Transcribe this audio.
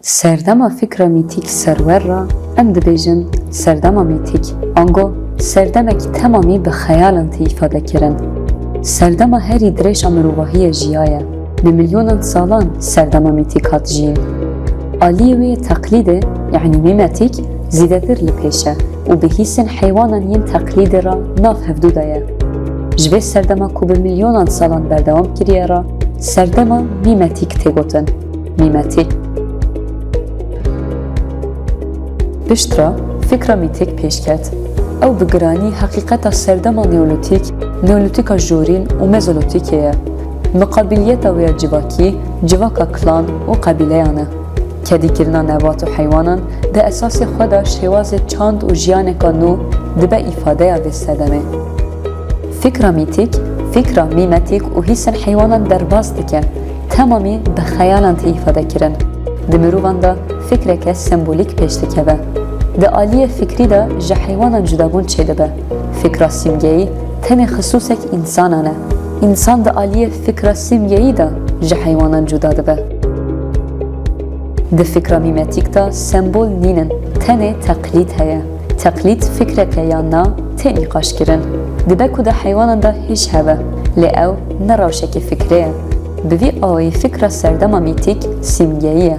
Serdema fîkra mîtîk serwer re em dibêjin serdema mîtîk, ango serdemekî temamî bi xeyalan tê îfadekirin. Serdema herî dirêj a mirovahiyê jiyaye, bi milyonan salan serdema mîtîk hat jiyîn. Aliyê wê teqlîdê, yanî mîmetîk, zîdetir li pêş e û bi hîsên heywanan yên teqlîdê re nav hevdû de ye. Ji vê serdema ku bi milyonan salan berdewam kiriye re serdema mîmetîk tê gotin. Mîmetî Piştre fikra mîtik pêş ket, ew bi giranî heqîqeta serdema neolîtîk, neolîtîka jorîn û mezolîtîkê ye. Miqabîliyeta wê ya civakî civaka klan û qebîleyan e. Kedîkirina nebat û heywanan di esasê xwe de şêwazê çand û jiyaneka nû dibe îfadeya vê sedemê. Fikra mîtîk, fikra mîmetîk û hîsên heywanan derbas dike. Temamî bi xeyalan tê îfade kirin. Di mirovan de fikreke sembolîk pêş dikeve. Di aliyê fikrî de ji heywanan cudabûn çêdibe. Fikra sîmgeyî tenê xisûsek însanan e. Însan di aliyê fikra sîmgeyî de ji heywanan cuda dibe. Di fikra mîmetîk de sembol nînin, tenê teqlîd heye. Teqlîd fikreke yan na tê nîqaşkirin. Dibe ku di heywanan de hîş hebe, lê ew ne rewşekê fikrê ye. Bi vî awayî fikra serdema mîtîk sîmgeyî ye.